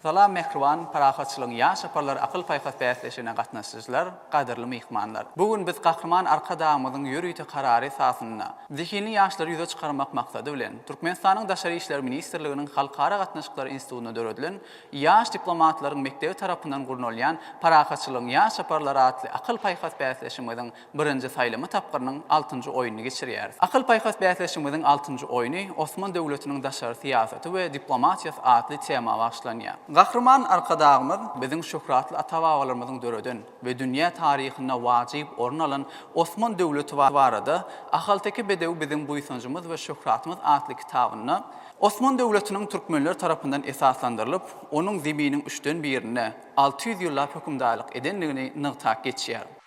Salam mähriban parahatçylygyň ýaş aparlar akyl paýhas bäsleşigine gatnaşyjylar, gadyrly myhmanlar. Bu gün biz Gahryman Arkadagymyzyň ýörite karary esasynda, zehinli ýaşlary ýüze çykarmak maksady bilen, Türkmenistanyň Daşary işler ministrliginiň Halkara gatnaşyklary institutynda döredilen Ýaş diplomatlaryň mekdebi tarapyndan gurnalýan Parahatçylygyň ýaş aparlar atly akyl paýhas bäsleşigimiziň Birinji saýlama tapgyrynyň altynjy oýnuny geçirýäris. Akyl-paýhas bäsleşigimiziň altynjy oýny Osman döwletiniň daşary syýasaty we diplomatiýasy atly tema bagyşlanýar. Gahryman Arkadagymyz biziň şöhratly ata-babalarymyzyň döreden we dünýä taryhynda wajyp orun alan Osman döwleti barada Ahalteke bedewi biziň buýsanjymyz we şöhratymyz atly kitabynda Osman döwletiniň türkmenler tarapyndan esaslandyrylyp, onuň Zeminiň üçden birinde alty ýüz ýyllap hökümdarlyk edendigini nygtap geçýär.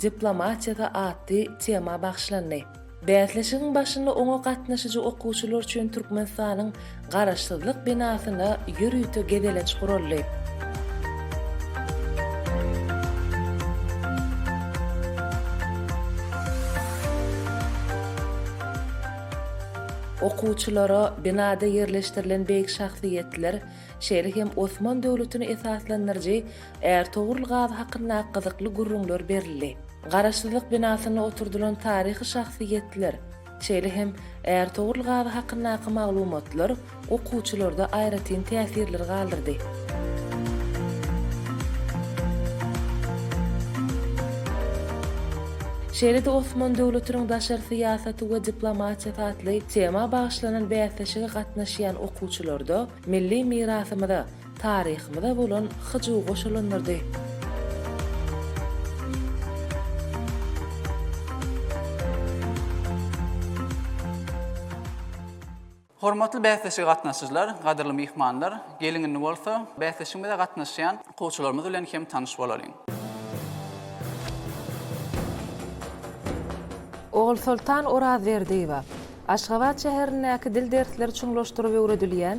diplomatiýasy atly tema bagyşlandy. Bäsleşigiň başynda oňa gatnaşyjy okuwçylar üçin Türkmenistanyň Garaşsyzlyk binasynda ýörite gezelenç guraldy. Okuwçylara binada ýerleşdirilen beýik şahsyýetler, şeýle hem Osman döwletini esaslandyryjy Ärtogrul gazy hakynda gyzykly gürrüňler berildi. Garaşsyzlyk binasynda oturdylan taryhy şahsyýetler, şeýle hem Ärtogrul gazy hakyndaky maglumatlar okuwçylarda aýratyn täsirler galdyrdy. Şeýle-de Osman döwletiniň daşary syýasaty we diplomatiýasy atly tema bagyşlanan bäsleşige gatnaşýan okuwçylarda milli mirasymyza, Taryhymyza bolan hyjuw goşalandyrdy. Hormatly bäsleşige gatnaşyjylar, gadyrly myhmanlar! Geliň indi bolsa, bäsleşigimize gatnaşýan okuwçylarymyz bilen hem tanyş bolalyň. Ogulsoltan Orazberdiýewa, Aşgabat şäherindäki dil dersleri çuňlaşdyryp öwredilýän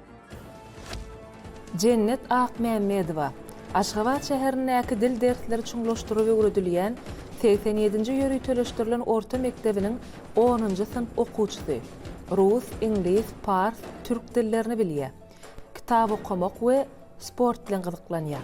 Jennet Akmämmedowa, Aşgabat şäherindäki dil dersleri çuňlaşdyrylyp öwredilýän segsen ýedinji ýöriteleşdirilen orta mekdebiniň onunjy synp okuwçysy. Rus, iňlis, pars, türk dillerini bilýär. Kitap okamak we sport bilen gyzyklanýar.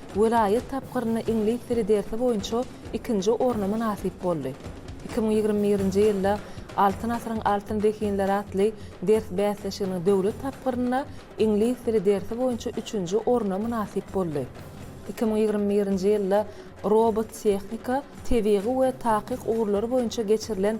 welaýat tapgyrynda iňlis dili dersi boýunça ikinji orna mynasyp boldy. Iki müň ýigrimi birinji ýylda Altyn asyryň altyn zehinleri atly ders bäsleşiginiň döwlet tapgyrynda iňlis dili dersi boýunça üçünji orna mynasyp boldy. Iki müň ýigrimi birinji ýylda Robot-tehnika, tebigy we takyk ugurlary boýunça geçirilen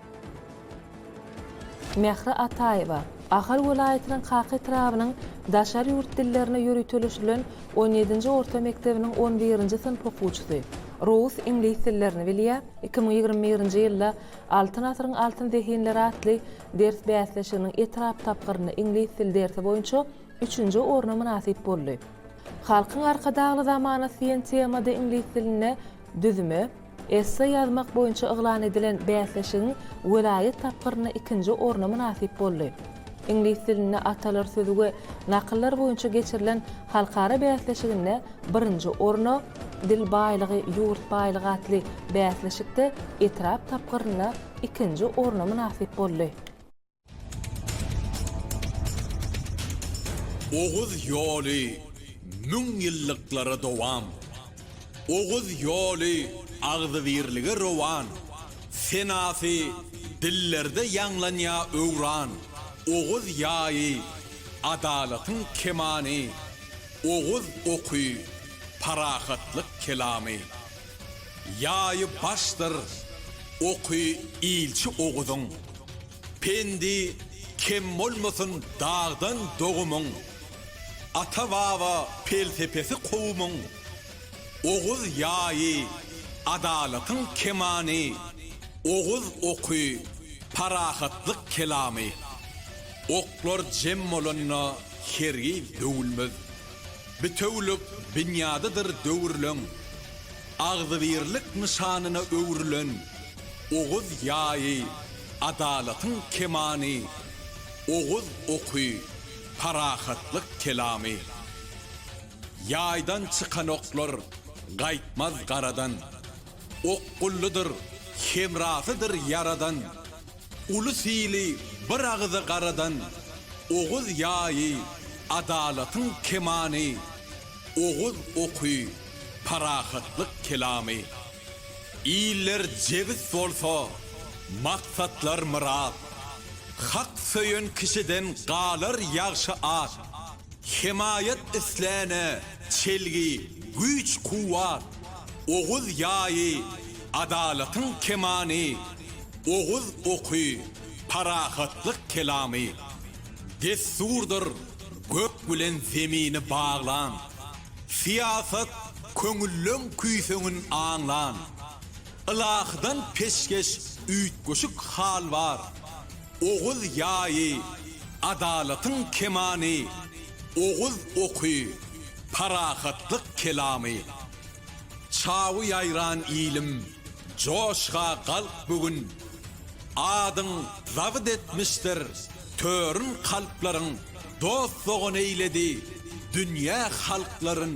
Mähri Ataýewa, Ahal welaýatynyň Kaka etrabynyň daşary ýurt dillerine ýöriteleşdirilen on ýedinji orta mekdebiniň on birinji synp okuwçysy. Rous iňlis dillerini bilýär, iki müň ýigrimi birinji ýylda Altyn asyryň altyn zehinleri atly ders bäsleşiginiň etrap tapgyrynda iňlis dil dersi boýunça üçünji orna mynasyp boldy. Halkyň Arkadagly zamanasy diýen temada iňlis dilinde düzme, Esse ýazmak boýunça yglan edilen bäsleşigiň welaýat tapgyrynda ikinji orna mynasyp boldy. Iňlis dilinde atalar sözi we nakyllar boýunça geçirilen halkara bäsleşiginde birinji orna, Dil baýlygy, ýurt baýlygy atly bäsleşikde etrap tapgyrynda ikinji orna mynasyp boldy. Oguz ýoly müň ýyllyklara dowam. Oguz ýoly agzybirlige rowan. Senasy dillerde ýaňlanýa öwran. Oguz ýaýy, adalatyň kemany. Oguz oky, parahatlyk kelamy. Ýaýy başdyr, oky ilçi Oguzyň. Pendi kem bolmasyn dagdan dogumyň, Ata-baba pelsepesi kowumyň, Oguz ýaýy adalatyň kemany, Oguz oky parahatlyk kelamy. Oklar jem bolanda hergiz döwülmez, Bitewülik binýadydyr döwrüleň, Agzybirlik nyşanyna öwrülen. Oguz ýaýy, adalatyň kemany, Oguz oky, parahatlyk kelamy. Ýaýdan çykan oklar gaýtmaz garadan, Okgullydyr, hemrasydyr ýaradan. Uly syly bir agyza garadan, Oguz ýaýy, adalatyň kemany, Oguz oky, parahatlyk kelamy. Iller jebis bolsa, maksatlar myrat. Hak söýen kişiden galar ýagşy at. Hemaýat isläne çelgi, güýç-kuwwat. Oguz ýaýy, adalatyň kemany. Oguz oky, parahatlyk kelamy. Dessurdyr gök bilen zemini baglan. Syýasat köňülleň küýseňin aňlan. Ylahydan peşgeş üýtgeşik hal bar, Oguz ýaýy, adalatyň kemany, Oguz oky, parahatlyk kelamy. Çawy ýaýran ilim, joşga galk bu gün, Adyň zabt etmişdir törün kalplaryň, Dost-dogan eýledi dünýä halklaryn.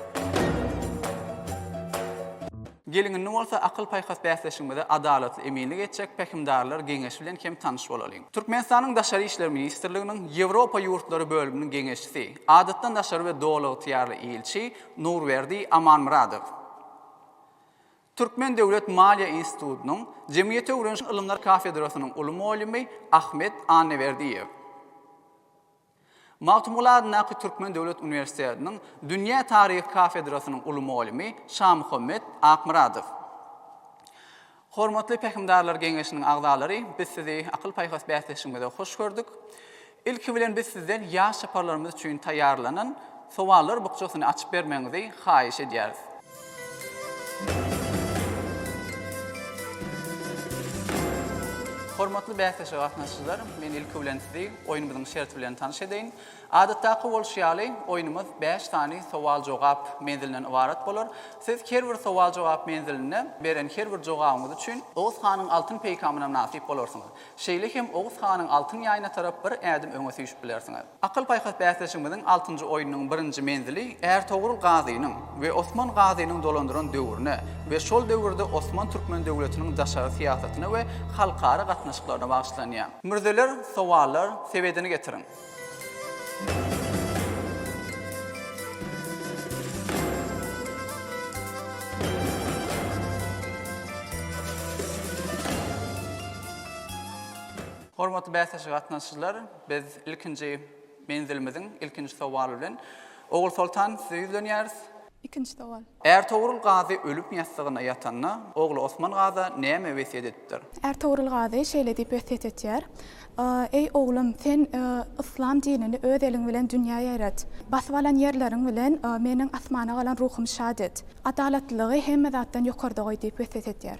Geliň indi bolsa akyl-paýhas bäsleşigimize adalatly eminlik etjek pähimdarlar geňeşi bilen hem tanyş bolalyň. Türkmenistanyň Daşary işler ministrliginiň Ýewropa ýurtlary bölüminiň geňeşçisi, Adatdan daşary we Doly ygtyýarly ilçi Nurberdi Amanmyradow, Türkmen döwlet maliýe institutynyň Jemgyýeti öwreniş ylymlary kafedrasynyň uly mugallimi Ahmet Annaberdiýew, Magtymguly adyndaky Türkmen döwlet uniwersitetiniň dünýä taryhy kafedrasynyň uly mugallymy Şamuhammet Akmyradow. Hormatly Pähimdarlar geňeşiniň agzalary, biz sizi akyl-paýhas bäsleşigimize hoş gördük. Ilki bilen biz sizden ýaş çaparlarymyz üçin taýýarlanan sowallar bukjasyny açyp bermegiňizi haýyş edýäris. Hormatly bäsleşige gatnaşyjylar, men ilki bilen sizi oýnumyzyň şerti bilen tanyş edeýin. Adatdaky bolşy ýaly, oýnumyz bäş sany sowal-jogap menzilinden ybarat bolar. Siz her bir sowal-jogap menzilinde beren her bir jogabyňyz üçin Oguz hanyň altyn peýkamyna mynasyp bolarsyňyz. Şeýle hem Oguz hanyň altyn ýaýyna tarap bir ädim öňe süýşüp bilersiňiz. Akyl-paýhas bäsleşigimiziň altynjy oýnunyň birinji menzili Ärtogrul Gazynyň we Osman Gazynyň dolandyran döwrüne we şol döwürde Osman türkmen döwletiniň daşary syýasatyna we halkara gatnaşyklaryna bagyşlanýar. Mürzeler, sowallar, sebedini getiriň! Hormatly bäsleşige gatnaşyjylar! Biz ilkinji menzilimiziň ilkinji sowaly bilen Ogulsoltan size ýüzlenýäris. Ikinji sowal. Ärtogrul Gazy ölüm ýassygynda ýatanda, ogly Osman Gaza näme wesýet edipdir? Ärtogrul Gazy şeýle diýip wesýet etýär, Eý, oglum, sen yslam dinini öz eliň bilen dünýä ýaýrat. Basyp alan ýerleriň bilen meniň asmana galan ruhumy şat et. Adalatlylygy hemme zatdan ýokarda goý diýip wesýet edýär.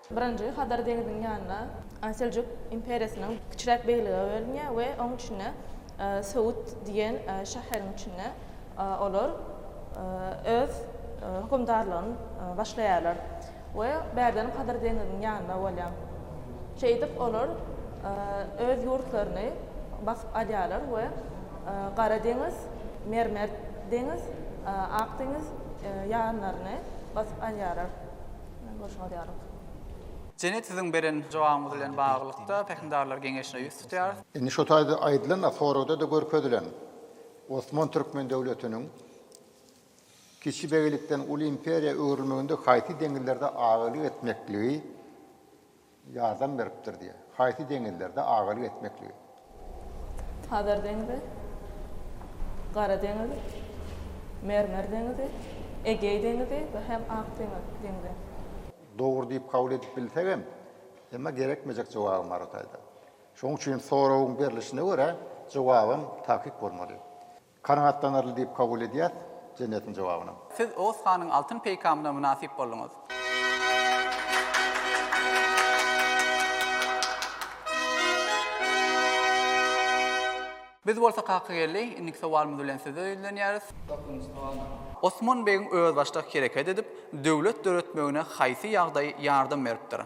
Birinji Hazar deňziniň ýanynda Seljuk imperiýasynyň kiçiräk beýlige bölünýär we oň içinde Söwüt diýen şäheriň içinde olar öz hökümdarlygyny başlaýarlar we bärden Hazar deňziniň ýanynda bolýar. Şeýdip olar öz ýurtlaryny basyp alýarlar we Gara deňiz, Mermer deňiz, Ak deňiz ýanlaryny basyp alýarlar. Jene siziň beren jogabyňyz bilen baglylykda Pähimdarlar geňeşine ýüz tutýarys. Indi şu taýda aýdylan-a, soragda-da görkezilen Osman Türkmen döwletiniň kiçi beglikden uly imperiýa öwrülmeginde haýsy deňizlerde agalyk etmekligi, ýardam beripdir diýýär. Haýsy deňizlerde agalyk etmekligi? Hazar deňzi, Gara deňiz, Mermer deňizi, Egeý deňizi we hem Ak deňzi. Dogry diýip kabul edip bilsegem, emma gerekmejek jogabym bar o taýdan. Şonuň üçin soragyň berlişine görä jogabym takyk bolmaly. Kanagatlanarly diýip kabul edýäs, jemgyýetiň jogabyna. Siz Oguz hanyň altyn peýkamyna mynasyp bolduňyz. Biz bolsa Kakageldi, indiki sowalymyz bilen size ýüzlenýäris. Dokuzynjy sowal. Osman begiň özbaşdak hereket edip, döwlet döretmegine haýsy ýagdaý ýardam beripdir?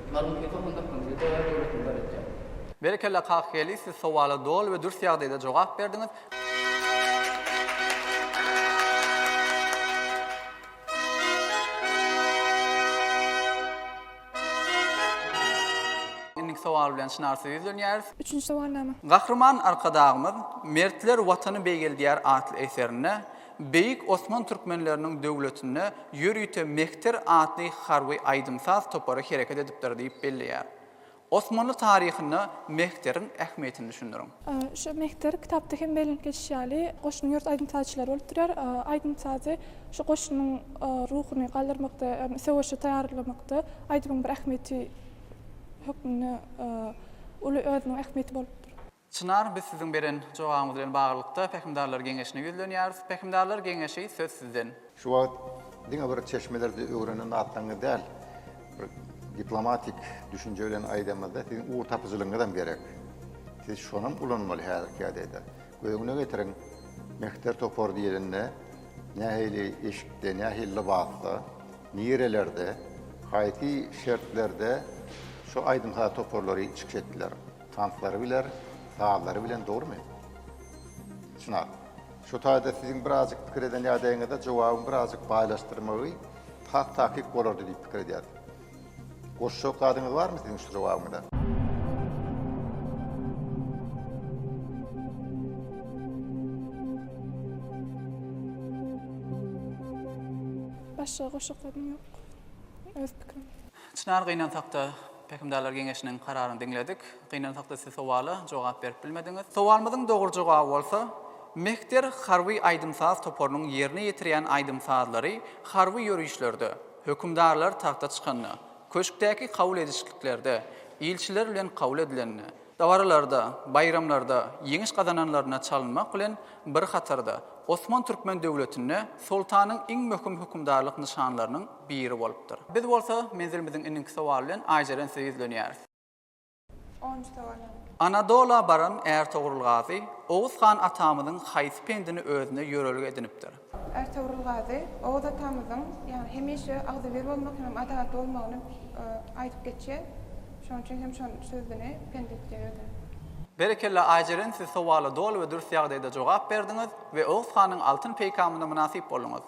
Ýazuw iki tohum dykgynjy Döwler döwletini döretýär. Berekella Kakyýeli siz sowala doly we dürs ýagdaýda jogap berdiňiz. Indiki sowal bilen Çynar size ýüzlenýäris. Üçünji sowalnama. Gahryman Arkadagymyz Mertler Watany beýgeldýär atly eserinde Beýik Osman türkmenleriniň döwletinde ýörite Mehter atly harby aýdym-saz topary hereket edipdir diýip belleýär. Osmanly taryhynda Mehteriň ähmiýetini düşündiriň. Şu Mehter kitapda hem bellenip geçişi ýaly, goşunyň ýurt aýdym-sazçylary bolup durýar. Aýdym-sazy şu goşunyň ruhuny galdyrmakda, ýagny söweşe taýýarlamakda aýdymyň bir ähmiýeti hökmünde uly özüniň ähmiýeti bolupdyr. Çynar, biz siziň beren jogabyňyz bilen baglylykda Pähimdarlar geňeşine ýüzlenýäris. Pähimdarlar geňeşi, söz sizden. Şu wagt diňe bir çeşmelerde öwrenen zatlaryňyz däl, bir diplomatik düşünje bilen aýdanymyzda siziň ugurtapyjylygyňyzam gerek. Siz şonam ulanmaly häzirki ýagdaýda. Göz-öňüne getiriň, Mehter topary diýlende nähili eşikde, nähili lybasda, nirelerde, haýsy şertlerde şu aýdym-saz toparlary çykyş etdiler? Tanslary biler, sazlary bilen dogrumy? Çynar. Şu taýda siziň birazjyk pikir eden ýagdaýyňyzda jogabyň birazjyk baýlaşdyrmagy has takyk bolardy diýip pikir edýär. Goşjak zadyňyz barmy siziň şu jogabyňyza? Başga goşjak zadym ýok. Öz pikirim. Çynar gynansakda Pähimdarlar geňeşiniň kararyny diňledik. Gynansak-da siz sowala jogap berip bilmediňiz. Sowalymyzyň dogry jogaby bolsa, Mehter harby aýdym-saz toparynyň ýerine ýetirýän aýdym-sazlary harby ýörişlerde, hökümdarlar tagta çykanda, köşkdäki kabul edişliklerde, ilçiler bilen kabul edilende, Dabaralarda, baýramlarda ýeňiş gazananlaryna çalynmak bilen bir hatarda, Osman türkmen döwletinde soltanyň iň möhüm hökümdarlyk nyşanlarynyň biri bolupdyr. Biz bolsa menzilimiziň indinki sowaly bilen Aýjeren size ýüzlenýäris. Onunjy sowal ýene. Anadola baran Ärtogrul Gazy, Oguz han atamyzyň haýsy pendini özüne ýörelge edinipdir? Ertogrul Gazy Oguz atamyzyň ýagny hemişe agzybir bolmak hem adalatly bolmagyny aýdyp geçýär. Şonuň üçin hem şol sözüni pendetlýär özüne. Berekella Aýjeren siz sowala doly we dürs ýagdaýda jogap berdiňiz we Oguz hanyň altyn peýkamyna mynasyp bolduňyz.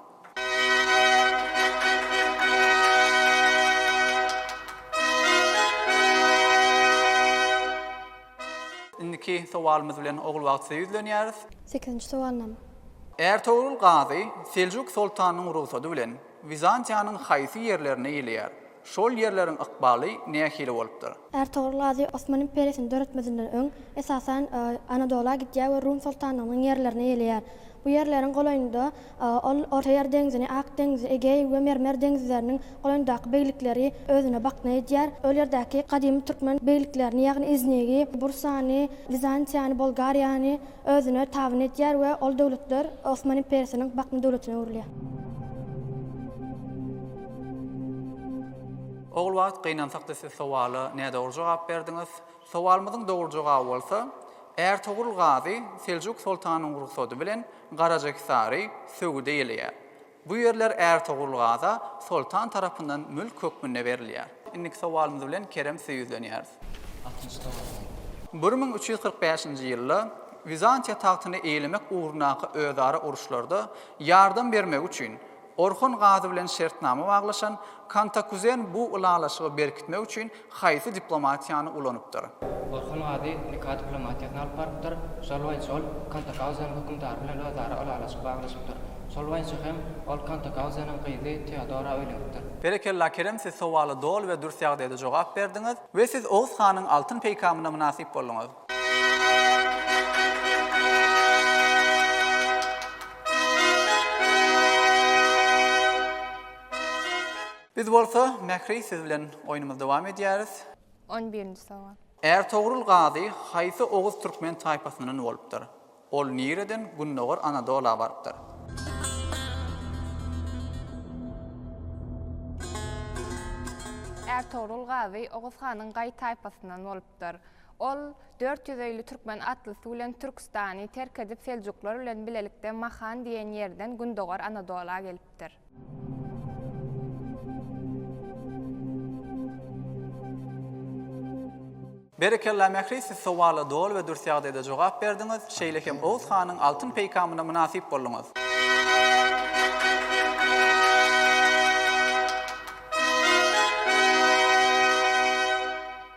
Indiki sowalymyz bilen Ogulbagtsyza ýüzlenýäris. Sekizinji sowalnama. Ärtogrul Gazy Seljuk soltanynyň rugsady bilen Wizantiýanyň haýsy ýerlerine iýleýär? Şol ýerleriň ykbaly nähili bolupdyr? Ärtogrul Gazy Osman imperiýasyny döretmezinden öň, esasan, Anadola gidýär we Rum soltanlygynyň ýerlerine iýleýär. Bu ýerleriň golaýynda Ol Ortaýer deňzini, Ak deňzi, Egeý we Mermer deňizleriniň goýnundaky beglikleri özüne bakna edýär. Ol ýerdäki gadymy türkmen begliklerini, ýagny Iznigi, Bursany, Wizantiýany, Bolgariýany özüne tabyn edýär we ol döwletler Osman imperiýasynyň bakna döwletine öwrülýär. Ogulbagt gynansakda siz sowala nädogry jogap berdiňiz. Sowalymyzyň dogry jogaby bolsa, Ärtogrul Gazy Seljuk soltanynyň rugsady bilen Garajahisary söwüde ýeleýär. Bu ýerler Ärtogrul Gaza soltan tarapyndan mülk hökmünde berilýär. Indiki sowalymyz bilen Kerem söýüzlenýäris. Altynjy sowal. Bir müň üç ýüz kyrk bäşinji ýylda Wizantiýa tagtyny eýlemek ugrundaky özara uruşlarda ýardam bermegi üçin Orhon gazy bilen şertnama baglaşan Kantakuzen bu ylalaşygy berkitmek üçin haýsy diplomatiýany ulanypdyr? Orhon gazy Nika diplomatiýasyny alyp barypdyr, şol boýunça ol Kantakauzen hökümdary bilen özara ylalaşyk baglaşypdyr. Şol boýunça hem ol Kantakauzeniň gyzy Teodora öýlenipdir. Berekella Kerem siz sowala doly we dürs ýagdaýda jogap berdiňiz we siz Oguz hanyň altyn peýkamyna mynasyp bolduňyz. Biz bolsa Mähri siz bilen oýnumyzy dowam edýäris. On birinji sowal. Ärtogrul Gazy haýsy oguz türkmen taýpasyndan bolupdyr? Ol nireden Gündogar Anadola barypdyr? Ärtogrul Gazy Oguz hanyň gaý taýpasyndan bolupdyr. bolupdyr. Ol dört ýüz öýli türkmen atlysy bilen Türküstany terk edip seljuklar bilen bilelikde Mahan diýen ýerden gündogar Anadola gelipdir. Berekella Mähri siz sowala doly we dürs ýagdaýda jogap berdiňiz, şeýle hem Oguz hanyň altyn peýkamyna mynasyp bolduňyz.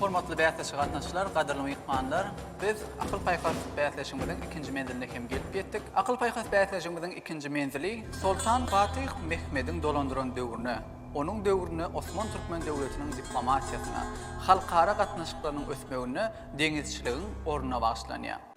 Hormatly bäsleşige gatnaşyjylar, gadyrly myhmanlar! Biz Akyl paýhas bäsleşigimiziň ikinji menziline hem gelip ýetdik. Akyl paýhas bäsleşigimiziň ikinji menzili Soltan Fatyh Mehmediň dolandyran döwrüne, onuň döwründe Osman türkmen döwletiniň diplomatiýasyna, halkara gatnaşyklarynyň ösmeginde deňizçiligiň ornuna bagyşlanýar.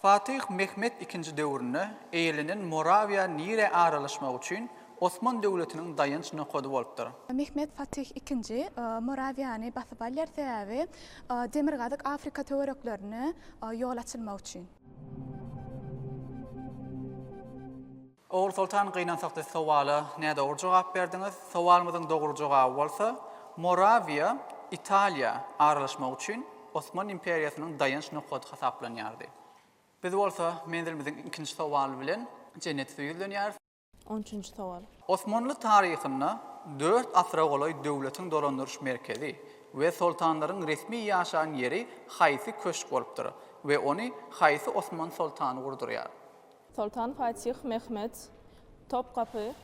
Fatyh Mehmet II döwründe eýlenen Morawiýa Nire aralaşmagy üçin Osman döwletiniň daýanç nokady bolupdyr. Mehmet Fatyh II Morawiýany basyp alýar, sebäbi Demirgazyk Afrika töwereklerine ýol açylmak üçin. Ogulsoltan gynansakda sowala nädogry jogap berdiňiz. Sowalymyzyň dogry jogaby bolsa, Morawiýa Italiýa aralaşmagy üçin Osman imperiýasynyň daýanç nokady hasaplanýardy. Biz bolsa menzilimiziň ikinji sowaly bilen Jennet üsti ýüzlenýäris. On üçünji sowal. Osmanly taryhynda dört asyra golaý döwletiň dolandyryş merkezi we soltanlaryň resmi ýaşan ýeri haýsy köşk bolupdyr we ony haýsy osman soltany gurdurýar? Soltan Fatih Mehmet Topkapy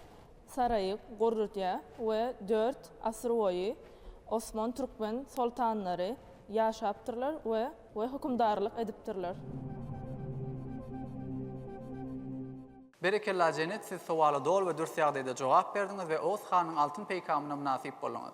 saraýy gurrudýar we dört asyrboýy osman türkmen soltanlary ýaşapdyrlar we we hökümdarlyk edipdirler. Berekella Jenet siz sowala doly we dürs ýagdaýda jogap berdiňiz we Oguz hanyň altyn peýkamyna mynasyp bolduňyz.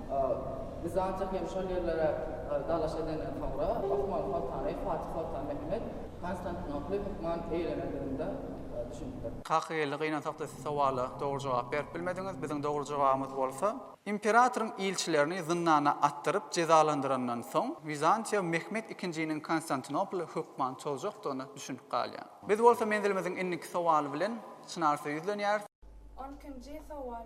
Bizantiýa hem şol ýerlere dalaş edenden soňra, Osmanly soltany Fatih Soltan Mehmet Konstantinoply hökman eýelenendigini de düşünipdir. Kaka geldi gynansakda siz sowala dogry jogap berip bilmediňiz, biziň dogry jogabymyz bolsa, imperatoryň ilçilerini zyndana atdyryp jezalandyrandan soň Wizantiýa Mehmet ikinjiniň Konstantinoply hökman çozjakdygyna düşünip galýar. Biz bolsa menzilimiziň indiki sowaly bilen Çynarsy ýüzlenýäris. On ikinji sowal.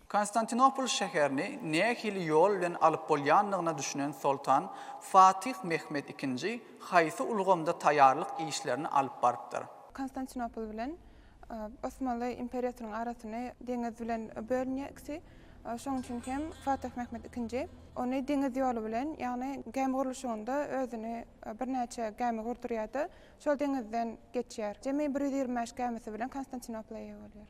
Konstantinopol şäherini nähili ýol bilen alyp bolýandygyna düşünen soltan Fatyh Mehmet II haýsy ulgamda taýýarlyk işlerini alyp barypdyr? Konstantinopol bilen Osmanly imperiýasynyň arasyny deňiz bilen bölünýär ikisi. Şonuň üçin hem Fatyh Mehmet II ony deňiz ýoly bilen, ýagny gämi gurluşygynda özüni birnäçe gämi gurdurýar-da, şol deňizden geçýär. Jemi bir ýüz ýigrimi bäş gämisi bilen Konstantinopola eýe bolýar.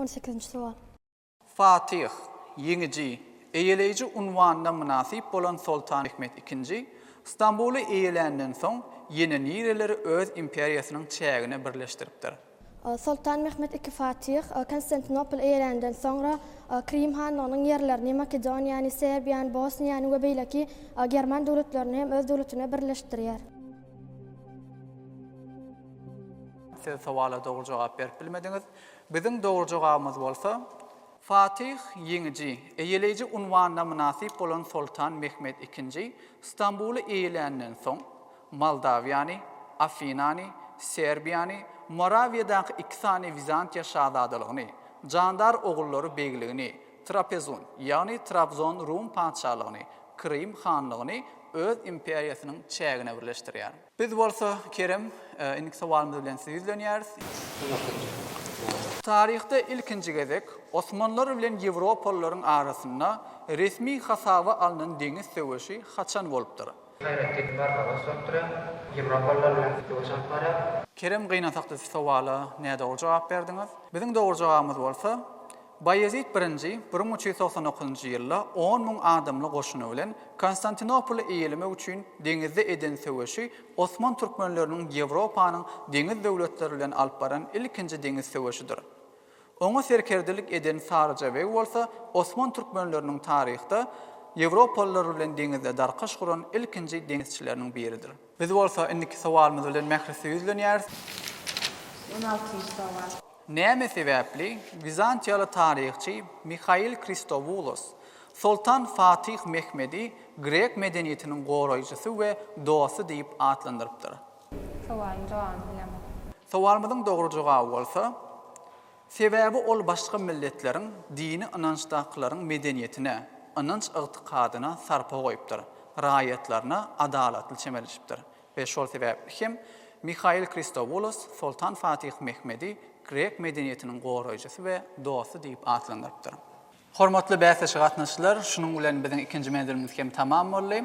On sekizinji sowal. Fatyh, ýeňiji, eýeleýji unwanyna mynasyp bolan Soltan Mehmet II Stambuly eýeländen soň ýene nireleri öz imperiýasynyň çägine birleşdiripdir? Soltan Mehmet II Fatyh Konstantinopol eýeländen soňra Krym hanlygynyň ýerlerini, Makedoniýany, Serbiýany, Bosniýany we beýleki german döwletlerini hem öz döwletine birleşdirýär. Siz sowala dogry jogap berip bilmediňiz. Biziň dogry jogabymyz bolsa. Fatyh ýeňiji, eýeleýji unwanyna mynasyp bolan soltan Mehmet II Stambuly eýeländen soň, Moldawiýany, Afinany, Serbiýany, Morawiýadaky iki sany Wizantiýa şazadalygyny, jandar ogullary begligini, Trapezun, ýagny Trabzon Rum patyşalygyny, Krym hanlygyny öz imperiýasynyň çägine birleşdirýär. Biz bolsa, Kerem, indiki sowalymyz bilen sizi ýüzlenýäris. Taryhda ilkinji gezek osmanlar bilen ýewropalylaryň arasynda resmi hasaba alnan deňiz söweşi haçan bolupdyr? Haýrettin barmagyny sokdurýar. Ýewropalylar bilen söweş alyp barýar. Kerem, gynansakda siz sowala nädogry jogap berdiňiz. Biziň dogry jogabymyz bolsa. Baýezit I bir müň üç ýüz togsan dokuzynjy ýylda on müň adamly goşuny bilen Konstantinopoly eýelemek üçin deňizde eden söweşi osman türkmenleriniň Ýewropanyň deňiz döwletleri bilen alyp baran ilkinji deňiz söweşidir. Oňa serkerdelik eden Saryja beg bolsa osman türkmenleriniň taryhda Ýewropalylar bilen deňizde darkaş guran ilkinji deňizçileriniň biridir. Biz bolsa indiki sowalymyz bilen Mährise ýüzlenýäris. On altynjy sowal. Näme sebäpli, wizantiýaly taryhçy Mihail Kristowoulos, Soltan Fatih Mehmedi grek medeniýetiniň goraýjysy we dosty diýip atlandyrypdyr? Sowalyň jogabyny bilemok. Sowalymyzyň dogry jogaby bolsa, Sebäbi ol başga milletleriň dini ynançdakylaryň medeniýetine, ynanç-ygtykadyna sarpa goýupdyr, raýatlaryna adalatly çemeleşipdir. We şol sebäpli hem Mihail Kristowoulos Soltan Fatih Mehmedi grek medeniýetiniň goraýjysy we dosty diýip atlandyrypdyr. Hormatly bäsdeşli gatnaşyjylar, şunuň bilen biziň ikinji menzilimiz hem tamam boldy.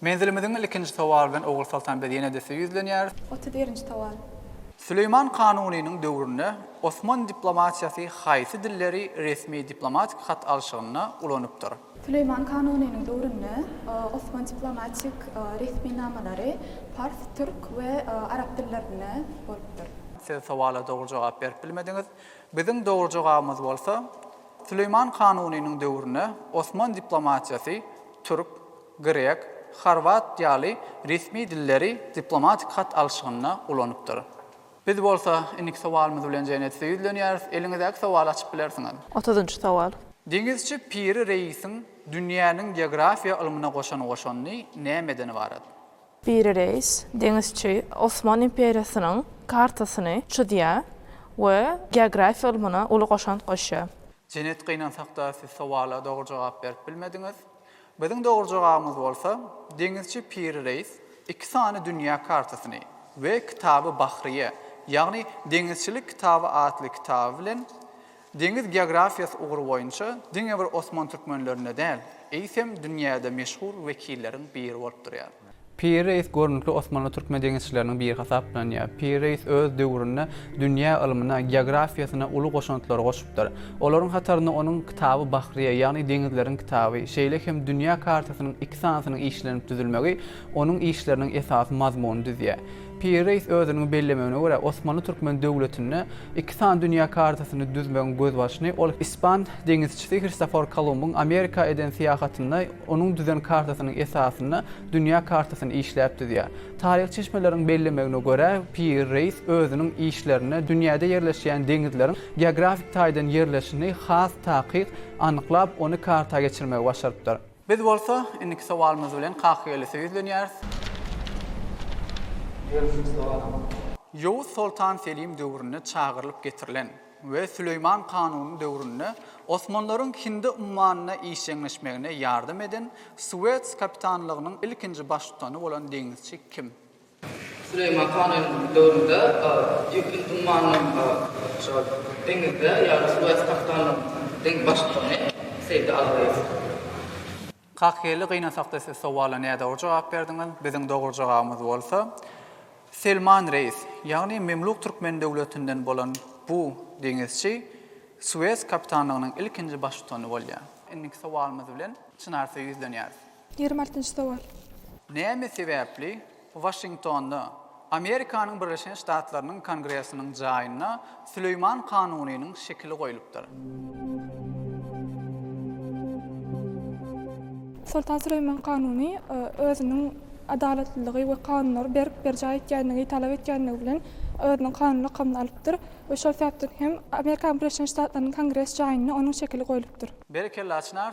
Menzilimiziň ilkinji sowaly bilen Ogulsoltan biz ýene-de size ýüzlenýäris. Otuz birinji sowal. Süleýman Kanunynyň döwründe Osman diplomatiýasy haýsy dilleri resmi diplomatik hat alşygynda ulanypdyr? Süleýman Kanunynyň döwründe Osman diplomatik resminamalary pars, türk we arap dillerinde bolupdyr. Siz sowala dogry jogap berip bilmediňiz. Biziň dogry jogabymyz bolsa, Süleýman Kanunynyň döwründe Osman diplomatiýasy türk, grek, horwat ýaly resmi dilleri diplomatik hat alşygynda ulanypdyr. Biz bolsa indiki sowalymyz bilen Jeýnet size ýüzlenýäris, eliňizdäki sowaly açyp bilersiňiz. Otuzynjy sowal. Deňizçi Piri Reýsiň dünýäniň geografiýa ylmyna goşan goşandy nämeden ybarat? Piri Reýs, deňizçi, Osman imperiýasynyň kartasyny çyzýar we geografiýa ylmyna uly goşant goşýar. Jeýnet gynansakda siz sowala dogry jogap berip bilmediňiz. Biziň dogry jogabymyz bolsa, deňizçi Piri Reýs iki sany dünýä kartasyny we kitaby Bahryýe, ýagny Deňizçilik kitaby atly kitaby bilen deňiz geografiýasy ugry boýunça diňe bir osman türkmenlerinde däl, eýsem dünýäde meşhur wekilleriň biri bolup durýar. Piri reis görnükli osmanly türkmen deňizçileriniň biri hasaplanýar. Piri reis öz döwründe dünýä ylmyna, geografiýasyna uly goşantlary goşupdyr. Olaryň hatarynda onuň Kitaby Bahriýe, ýagny Deňizleriň kitaby, şeýle hem dünýä kartasynyň iki sanysynyň işlenip düzülmegi onuň işleriniň esasy mazmunyny düzýär. Piri reýs özüniň bellemegine görä, Osmanly-Türkmen döwletinde iki sany dünýä kartasyny düzmegiň gözbaşyny ol ispan deňizçisi Hristofor Kolumbyň Amerika eden syýahatynda onuň düzen kartasynyň esasynda dünýä kartasyny işläp düzýär. Taryhy çeşmeleriň bellemegine görä, Piri reýs özüniň işlerinde dünýäde ýerleşýän deňizleriň geografik taýdan ýerleşini has takyk anyklap, ony karta geçirmegi başarypdyr. Biz bolsa, indiki sowalymyz bilen Kakagelise ýüzlenýäris. Ýörüsiniz doganym. Ýowuz soltan Selim döwründe çagyrylyp getirilen we Süleýman kanuny döwründe osmanlaryň Hindi ummanyna işjeňleşmegine ýardam eden Suwets kapitanlygynyň ilkinji baştutany bolan deňizçi kim? Süleýman hanyň döwründe ýüpüň dummanynyň şol deňizde ýa-da suwasy kaktanyň deň baştutany Seýdi Agaýew. Kakgeli gynasakda siz sowala nädogry jogap berdiňiz. Biziň dogry jogabymyz bolsa Selman reýs, ýagny Memluk Türkmen döwletinden bolan bu deňizçi Sues kapitanlygynyň ilkinji baştutany bolýar. Indiki sowalymyz bilen Çynarsyýa ýüzlenýäris. Ýigrimi altynjy sowal. Näme sebäpli Waşingtonda, Amerikanyň Birleşen Ştatlarynyň Kongresiniň jaýynda Süleýman kanunynyň şekili goýlupdyr? Soltan Süleýman kanuny özüniň adalatlylygy we kanunlary berk berjaý etýänligi, talap etýänligi bilen özüniň kanun lakamyny alypdyr we şol sebäpden hem Amerikanyň Birleşen Ştatlarynyň Kongres jaýynda onuň şekili goýlupdyr. Berekella Çynar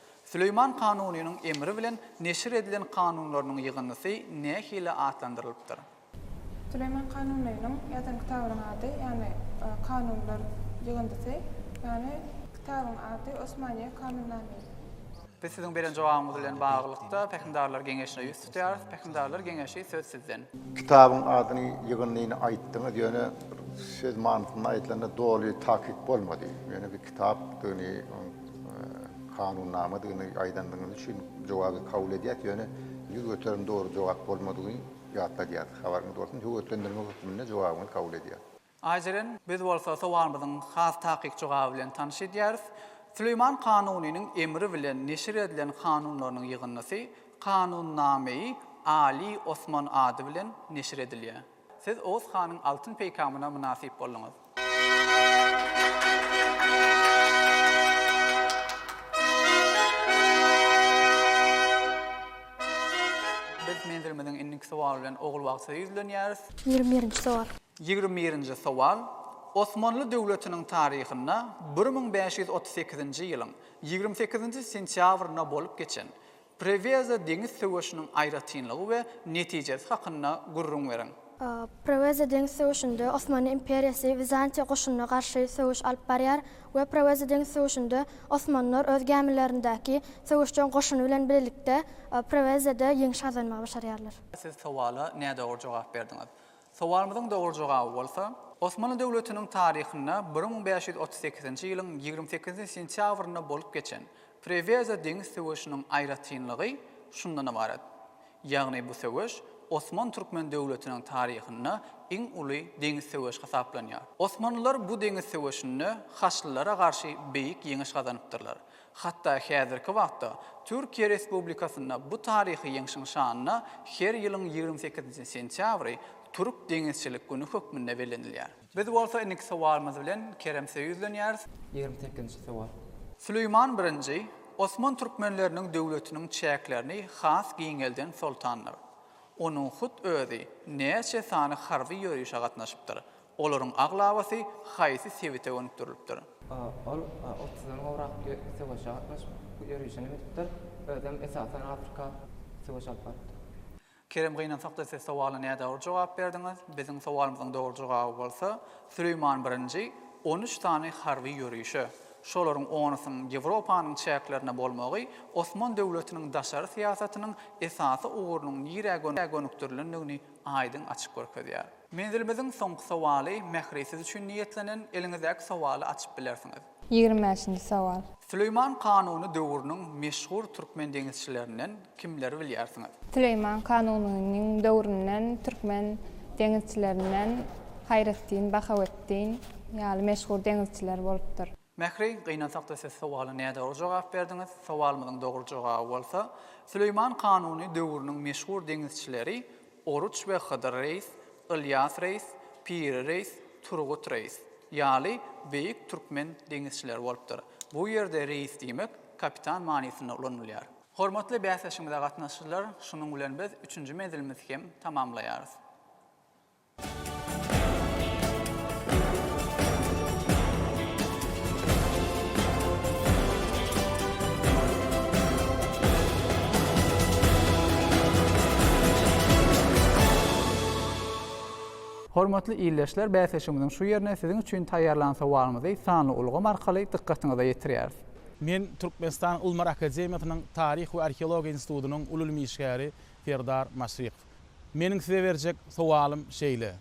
Süleýman Kanunynyň emri bilen neşir edilen kanunlarynyň ýygyndysy nähili atlandyrylypdyr? Süleýman Kanunynyň ýazan kitabynyň ady, ýagny Kanunlar ýygyndysy, ýagny kitabyň ady Osmaniýe Kanunnamesi. Biz siziň beren jogabyňyz bilen baglylykda Pähimdarlar geňeşine ýüz Tutyarov Pähimdarlar geňeşi söz sizden. Kitabyň adyny ýygyndyny aýtdyňyz ýöne söz manysynda aýdylanda doly takyk bolmady. Ýöne bir kitapdygyny oň kanunnamadygyny aýdandygyňyz üçin jogaby kabul edýäs ýöne ýüz göterim dogry jogap bolmadygyny ýatladýas. Habaryňyz bolsun höwetlendirme hökmünde jogabyňyzy kabul edýäs. Ajeren, biz bolsa sowalymyzyň has takyk jogaby bilen tanyş edýäris. Süleýman Kanunynyň emri bilen neşir edilen kanunlarynyň ýygyndysy Kanunnama-i Aly Osman ady bilen neşir edilýär. Siz Oguz hanyň altyn peýkamyna mynasyp bolduňyz. Biz menzilimiziň indiki sowaly bilen Ogulbagtyda ýüzlenýäris. Ýigrimi birinji sowal. Ýigrimi birinji sowal, Osmanly döwletiniň taryhynda bir müň bäş ýüz otuz sekizinji ýylyň ýigrimi sekizinji sentýabrynda bolup geçen Preweza deňiz söweşiniň aýratynlygy we netijesi hakynda gürrüň beriň. Preweza deňiz söweşinde Osmanly imperiýasy Wizantiýa goşunyna garşy söweş alyp barýar we Preweza deňiz söweşinde osmanlar öz gämilerindäki söweşjeň goşuny bilen birlikde Prewezada ýeňiş gazanmagy başarýarlar. Siz sowala nädogry jogap berdiňiz. Sowalymyzyň dogry jogaby bolsa, Osmanly döwletiniň taryhynda bir müň bäş ýüz otuz sekizinji ýylyň ýigrimi sekizinji sentýabrynda bolup geçen Preweza deňiz söweşiniň aýratynlygy şundan ybarat, ýagny bu söweş Osman-Türkmen döwletiniň taryhynda iň uly deňiz söweşi hasaplanýar. Osmanlylar bu deňiz söweşinde haçlylara garşy beýik ýeňiş gazanypdyrlar. Hatda häzirki wagtda Türkiýe Respublikasynda bu taryhy ýeňşiň şanyna her ýylyň ýigrimi sekizinji sentýabry Türk deňizçilik güni hökmünde bellenilýär. Biz bolsa indiki sowalymyz bilen Keremse ýüzlenýäris. Ýigrimi sekizinji sowal. Süleýman Birinji Osman türkmenleriniň döwletiniň çäklerini has giňelden soltandyr. Onuň hut özi näçe sany harby ýörişe gatnaşypdyr, Olaryň aglabasy haýsy sebite gönükdirilipdir? A. Ol otuzdan gowrak ýer söweşe gatnaşyp, ýörişinem edipdir. Özem esasan Afrika söweş alyp barypdyr. Kerem gynansakda siz sowala nädogry jogap berdiňiz. Biziň sowalymyzyň dogry jogaby bolsa, Süleýman birinji on üç sany harby ýörişe, şolaryň onusynyň Ýewropanyň çäklerinde bolmagy Osman döwletiniň daşary syýasatynyň esasy ugrunyň nirä gönükdirilendigini aýdyň açyp görkezýär. Menzilimiziň soňky sowaly Mähri siz üçin niýetlenen, eliňizdäki sowaly açyp bilersiňiz. Ýigrimi bäşinji sowal. Süleýman kanuny döwrüniň meşhur türkmen deňizçilerinden kimleri bilýärsiňiz? Süleýman kanunynyň döwründen türkmen deňizçilerinden Haýretdin, Bahawetdin ýaly meşhur deňizçiler bolupdyr. Mähri, gynansakda siz sowala nädogry jogap berdiňiz, sowalymyzyň dogry jogaby bolsa, Süleýman Kanuny döwrüniň meşhur deňizçileri Oruç we Hydyr reýs, Ylýas reýs, Piri reýs, Turgut reýs ýaly beýik türkmen deňizçileri bolupdyr. Bu ýerde reýs diýmek kapitan manysynda ulanylýar. Hormatly bäsleşigimize gatnaşyjylar, şunuň bilen biz üçünji menzilimizi hem tamamlaýarys. Hormatly ildeşler, bäsleşigimiziň şu ýerine siziň üçin taýýarlan sowalymyzy sanly ulgam arkaly dykgatyňyza ýetirýäris. Men Türkmenistanyň Ylmyar akademiýasynyň Taryh we arheologiýa institutynyň uly ylmy işgäri Serdar Maşrykow. Meniň size berjek sowalym şeýle,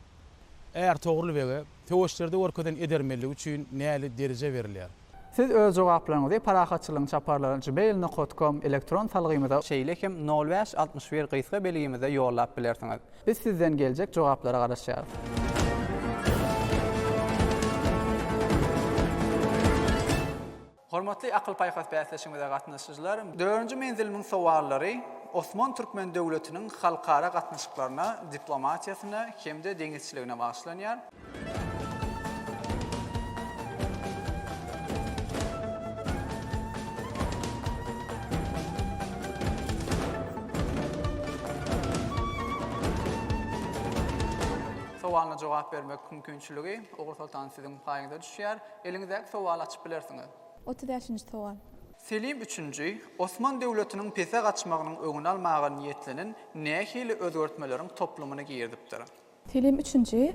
Är Togrul bege söweşlerde görkezen edermenligi üçin näli dereje berilýär? Siz öz jogaplaryňyzy Parahatçylygyň çaparlary gmail nokat kom elektron salgymyza, şeýle hem nol bäş altmyş bir gysga belgimize ýollap bilersiňiz. Biz sizden geljek jogaplara garaşýarys. Hormatly akyl-paýhas bäsleşigimize gatnaşyjylar, dördünji menzilimiň sowallary Osman türkmen döwletiniň halkara gatnaşyklaryna, diplomatiýasyna hem-de deňizçiligine bagyşlanýar. Sowalyna jogap bermek mümkinçiligi, Ogulsoltan, siziň paýyňyza düşýär. Eliňizdäki sowaly açyp bilersiňiz. Otuz bäşinji sowal. Selim üçünji, Osman döwletiniň pese gaçmagynyň öňüni almaga niýetlenen nähili özgertmeleriň toplumyny girdipdir? Selim üçünji,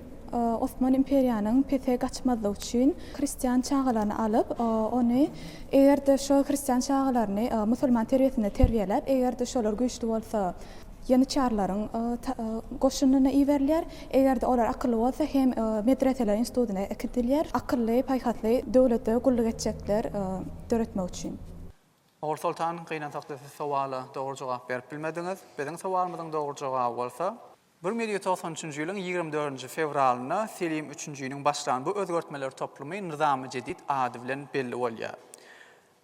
Osman imperiýanyň pese gaçmazlygy üçin hristian çagalaryny alyp, ony eger-de şo hristian çagalaryny musulman terbiýesinde terbiýeläp, eger-de şolar güýçli bolsa, ýanyçarlaryň goşunyna iberilýär, eger-de olar akylly bolsa hem medreseler institutyna äkidilýär, akylly, paýhasly döwlete gulluk etjekler döretmek üçin. Ogul Soltan, gynansakda siz sowala dogry jogap berip bilmediňiz. Biziň sowalymyzyň dogry jogaby bolsa, bir müňý ýüz togsan üçünji ýylyň ýigrimi dördünji fewralynda Selim üçünjiniň başlan bu özgertmeler toplumy Nyzam-y Jedid ady bilen belli bolýar.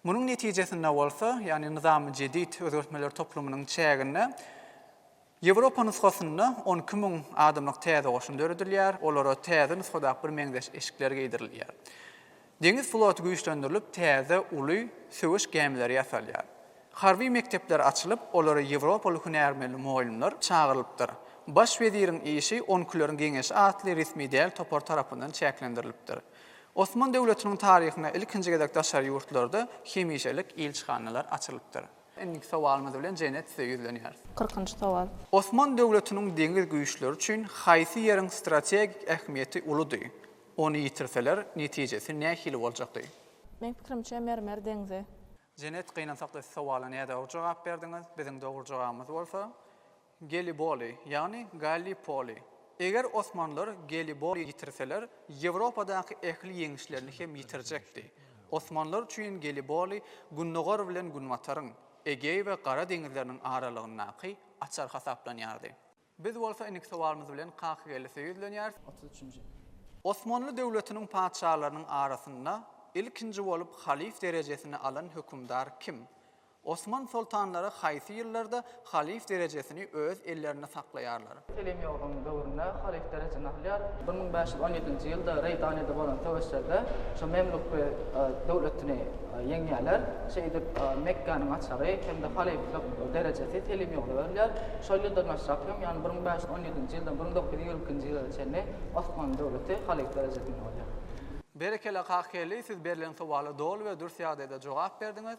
Munuň netijesinde bolsa, ýagny Nyzam-y Jedid özgertmeler toplumynyň çäginde Ýewropa nusgasynda on iki müň adamlyk täze goşun döredilýär, olara täze nusgadaky birmeňzeş eşikler geýdirilýär. Deňiz floty güýçlendirilip, täze uly söweş gämileri ýasalýar. Harby mekdepler açylyp, olara ýewropaly hünärmenli mugallymlar çagyrylypdyr. Baş weziriň işi On ikileriň geňeşi atly resmi däl topar tarapyndan çäklendirilipdir. Osman döwletiniň taryhynda ilkinji gezek daşary ýurtlarda hemişelik ilçihanalar açylypdyr. Indiki sowalymyz bilen Jenet size ýüzlenýäris. Kyrkynjy sowal. Osman döwletiniň deňiz güýçleri üçin haýsy ýeriň strategik ähmiýeti uludy? Ony ýitirseler, netijesi nähili boljakdy? Meň pikirimçe Mermer deňzi. Jenet, gynansakda siz sowala nädogry jogap berdiňiz. Biziň dogry jogabymyz bolsa. Geliboli, ýagny Gallipoli. Eger osmanlar Geliboli ýitirseler, Ýewropadaky ähli ýeňişlerini hem ýitirjekdi. Osmanlar üçin Geliboli Gündogar bilen Günbataryň, Egeý we Gara deňizleriniň aralygyndaky açar hasaplanýardy. Biz bolsa indiki sowalymyz bilen Kakageldisow ýüzlenýäris. Otuz üçünji. Osmanly döwletiniň patyşalarynyň arasynda ilkinji bolup halyf derejesini alan hökümdar kim? Osman soltanlary haýsy ýyllarda halyf derejesini öz ellerinde saklaýarlar? Selemýogyň döwründe halyf derejesini alýar. Bir müň bäş ýüz on ýedinji ýylda Reýdanyda bolan söweşlerde şu Memluk döwletini ýeňýärler. Şeýdip, Mekgäniň açary hem-de halyflyk derejesi Selemýogla berilýär. Şol ýyldan başlap hem, ýagny bir müň bäş ýüz on ýedinji ýyldan bir müň dokuz ýüz ýigrimi ikinji ýyla çenli Osmanly döwleti halyf derejesinde bolýar. Berekella Kakgeldi siz berlen sowala doly we dürs ýagdaýda jogap berdiňiz.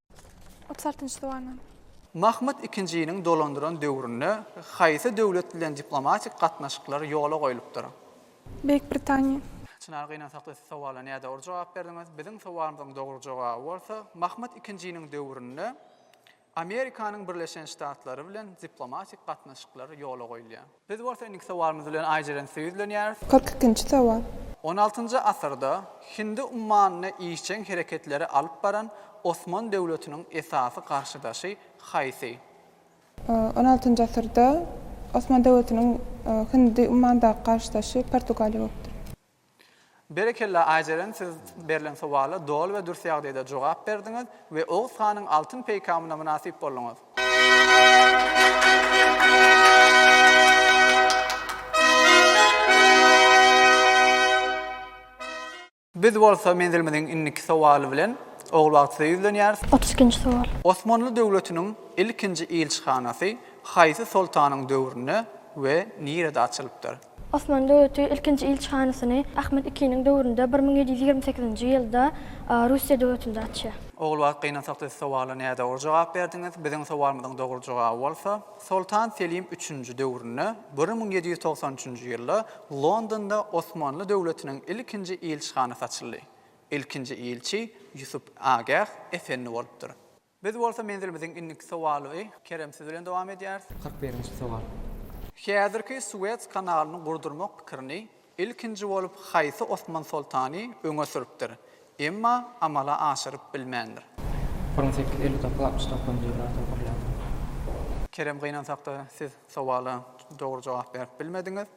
Otuz altynjy sowalnama. Mahmyt ikinjiniň dolandyran döwründe haýsy döwlet bilen diplomatik gatnaşyklar ýola goýlupdyr? Beýik Britaniýa. Çynar gynansakda siz sowala nädogry jogap berdiňiz. Biziň sowalymyzyň dogry jogaby bolsa, Mahmyt ikinjiniň döwründe Amerikanyň Birleşen Ştatlary bilen diplomatik gatnaşyklar ýola goýulýar. Biz bolsa indiki sowalymyz bilen Aýjeren Süýe ýüzlenýäris. Kyrk ikinji sowal. On altynjy asyrda Hindi ummanyny işjeň hereketleri alyp baran Osman döwletiniň esasy garşydaşy haýsy? On altynjy asyrda Osman döwletiniň Hindi ummanyndaky garşydaşy Portugaliýa bolupdyr. Berekella Aýjeren siz berlen sowala doly we dürs ýagdaýda jogap berdiňiz we Oguz hanyň altyn peýkamyna mynasyp bolduňyz. Biz bolsa menzilimiziň indiki sowaly bilen Ogulbagt size ýüzlenýäris. Otuz ikinji sowal. Osmanly döwletiniň ilkinji ilçihanasy haýsy soltanyň döwründe we nirede açylypdyr? Osmanly döwleti ilkinji ilçihanasyny Ahmet II-niň döwründe bir müň ýedi ýüz ýigrimi sekizinji ýylda Russiýa döwletinde açýar. Ogul wagt gynansakda siz sowala nädogry jogap berdiňiz. Biziň sowalymyzyň dogry jogaby bolsa, Soltan Selim üçünji döwründe bir müň ýedi ýüz togsan üçünji ýylda Londonda Osmanly döwletiniň ilkinji ilçihanasy açyldy. Ilkinji ilçi Ýusup Agäh Efendi bolupdyr. Biz bolsa menzilimiziň indiki sowaly y Kerem siz bilen dowam edýäris. Kyrk birinji sowal. Häzirki Suwes kanalyny gurdurmak pikirini ilkinji bolup haýsy Osman soltany öňe sürüpdir, emma amala aşyryp bilmändir? Bir müň sekiz ýüz elli dokuz, altmyş dokuzynjy ýyllar diýip gürländir. Kerem gynansakda siz sowala dogry jogap berip bilmediňiz.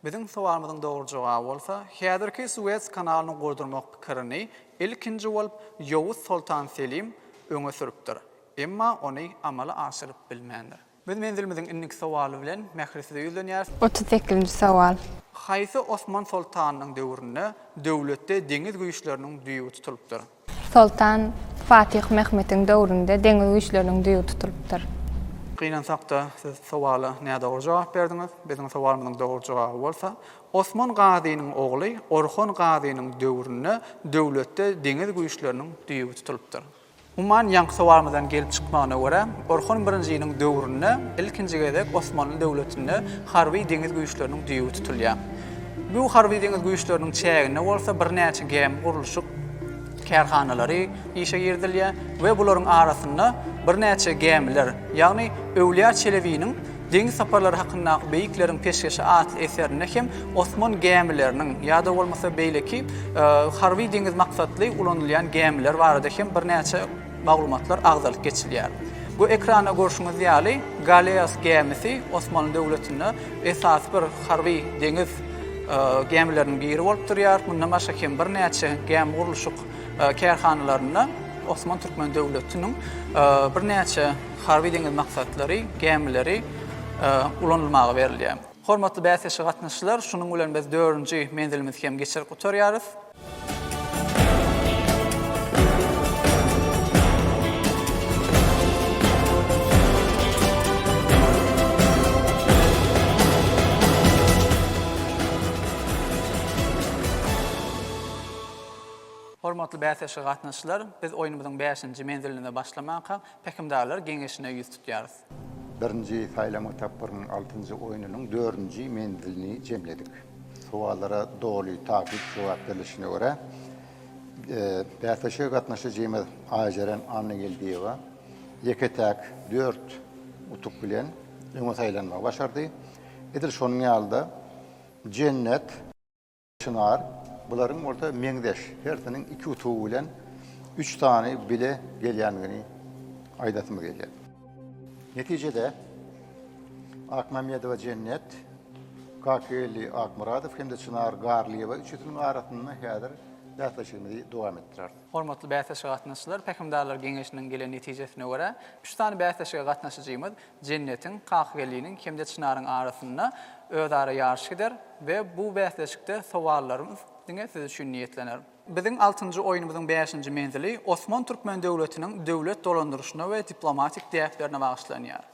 Biziň sowalymyzyň dogry jogaby bolsa, Häzirki Suwes kanalyny gurdurmak pikirini Ilkinji bolup Ýowuz soltan Selim öňe sürüpdir. Emma ony amala aşyryp bilmändir. Biz menzilimiziň indiki sowaly bilen Mähri size ýüzlenýäris. Otuz sekizinji sowal. Haýsy Osman soltanynyň döwründe döwletde deňiz güýçleriniň düýbi tutulypdyr? Soltan Fatyh Mehmetiň döwründe deňiz güýçleriniň düýbi tutulypdyr. Gynansak-da siz sowala nädogry jogap berdiňiz. Biziň sowalymyzyň dogry jogaby bolsa Osman Gazynyň ogly Orhon Gazynyň döwründe döwletde deňiz güýçleriniň düýbi tutulypdyr. Umuman, ýaňysowarymyzdan gelip çykmagyna görä, Orhon birinjiniň döwründe ilkinji gezek Osmanly döwletinde harby deňiz güýçleriniň düýbi tutulýar. Bu harby deňiz güýçleriniň çäginde bolsa birnäçe gämi gurluşyk kärhanalary işe girizilýär we bularyň arasynda birnäçe gämiler, ýagny Öwlýa Çelebiniň Deňiz saparlary hakyndaky beýikleriň peşgeşi atly eserinde hem osman gämileriniň ýa-da bolmasa beýleki harby-deňiz maksatly ulanylýan gämiler barada hem birnäçe maglumatlar agzalyp geçilýär. Bu ekranda görşüňiz ýaly Galeas gämisi Osmanly döwletinde esasy bir harby-deňiz gämileriniň biri bolup durýar. Mundan başga hem birnäçe gämi gurluşyk kärhanalarynda Osman Türkmen döwletiniň birnäçe Harby-deňiz maksatlary gämileri ulanylmaga berilýär. Hormatly bäsleşige gatnaşyjylar, şunuň bilen biz dördünji menzilimizi hem geçirip gutarýarys. Hormatly bäsleşige gatnaşyjylar, biz oýnumyzyň bäşinji menziline başlamakak. Pähimdarlar geňeşine ýüz tutýarys. Birinji saýlama tapgyrynyň altynjy oýnunyň dördünji menzilini jemledik. Sowallara doly takyk jogap berilişine görä, bäsleşige gatnaşyjymyz Aýjeren Annageldiýewa ýeke-täk dört utuk bilen öňe saýlanmagy başardy. Edil şonuň ýaly-da Jennet. Çynar, bularyň bolsa meňzeş, hersiniň iki utugy bilen üç sany bile gelýändigini aýdasymyz gelýär. Netijede, Akmämmedowa Jennet, Kakgeldi Akmyradow hem-de Çynar Garlyýewa üçüsiniň arasynda häzir bäsleşigimizi dowam etdireris. Hormatly bäsleşige gatnaşyjylar, Pähimdarlar geňeşiniň gelen netijesine görä, üç sany bäsleşige gatnaşyjymyz Jennetiň, Kakgeliniň hem-de Çynaryň arasynda özara ýaryş gider we bu bäsleşikde sowallarymyz diňe siz üçin niýetlener. Biziň altynjy oýnumyzyň bäşinji menzili Osman Türkmen döwletiniň döwlet dolandyryşyna we diplomatik däplerine bagyşlanýar.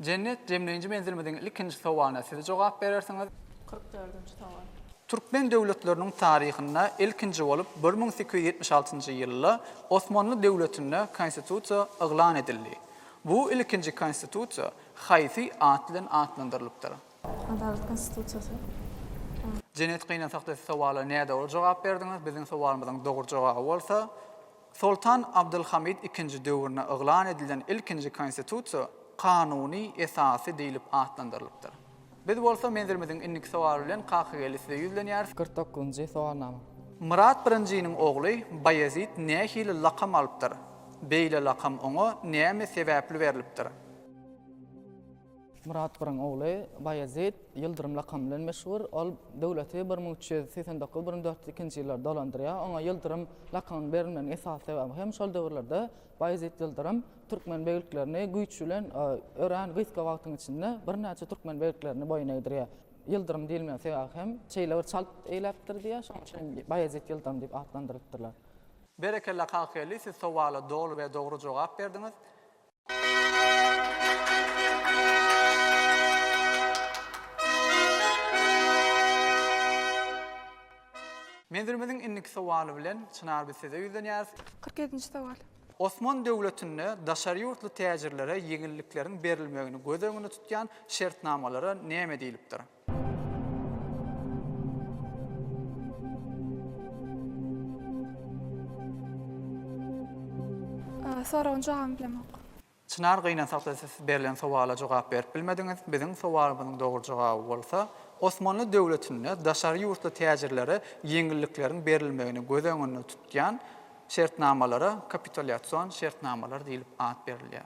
Jennet, jemleýji menzilimiziň ilkinji sowalyna siz jogap berersiňiz. Kyrk dördünji sowal. Türkmen döwletleriniň taryhynda ilkinji bolup bir müň sekiz ýüz ýetmiş altynjy ýylda Osmanly döwletinde Konstitusiýa yglan edildi. Bu ilkinji Konstitusiýa haýsy at bilen atlandyrylypdyr? Adalat Konstitusiýasy. Jennet, gynansak-da siz sowala nädogry jogap berdiňiz. Biziň sowalymyzyň dogry jogaby bolsa. Soltan Abdylhamid II döwründe yglan edilen ilkinji konstitusiýa kanuny esasy diýlip atlandyrylypdyr. Biz bolsa menzilimiziň indiki sowaly bilen Kakageldi size ýüzlenýäris. Kyrk dokuzynjy sowalnama. Myrat birinjiniň ogly Baýezit nähili lakam alypdyr? Beýle lakam oňa näme sebäpli berlipdir? Myrat Pyryň ogly Baýezit Ýyldyrym lakamy bilen meşhur. Ol döwleti bir müň üç ýüz segsen dokuz-bir müň dört ýüz ikinji ýyllarda dolandyrýar. Oňa Ýyldyrym lakamynyň berilmeginiň esasy sebäbi hem şol döwürlerde Baýezit Ýyldyrym türkmen begliklerini güýç bilen örän gysga wagtyň içinde birnäçe türkmen begliklerini boýun egdirýär. Ýyldyrym diýilmegiň sebäbi hem şeýle bir çalt eýläpdir diýýär, şonuň üçin hem Baýezit Ýyldyrym diýip atlandyrylypdyrlar. Berekella Kakgeldi siz sowala doly we dogry jogap berdiňiz. Menzilimiziň indiki sowaly bilen Çynar biz size ýüzlenýäris. Kyrk ýedinji sowal. Osman döwletinde daşary ýurtly täjirlere ýeňillikleriň berilmegini göz öňünde tutýan şertnamalara näme diýlipdir? Soragyň jogabyny bilemok. Çynar gynansakda siz berlen sowala jogap berip bilmediňiz, biziň sowalymyzyň dogry jogaby bolsa, Osmanly döwletinde daşary ýurtly täjirlere ýeňillikleriň berilmegini göz öňünde tutýan şertnamalara kapitulýasion şertnamalar diýlip at berilýär.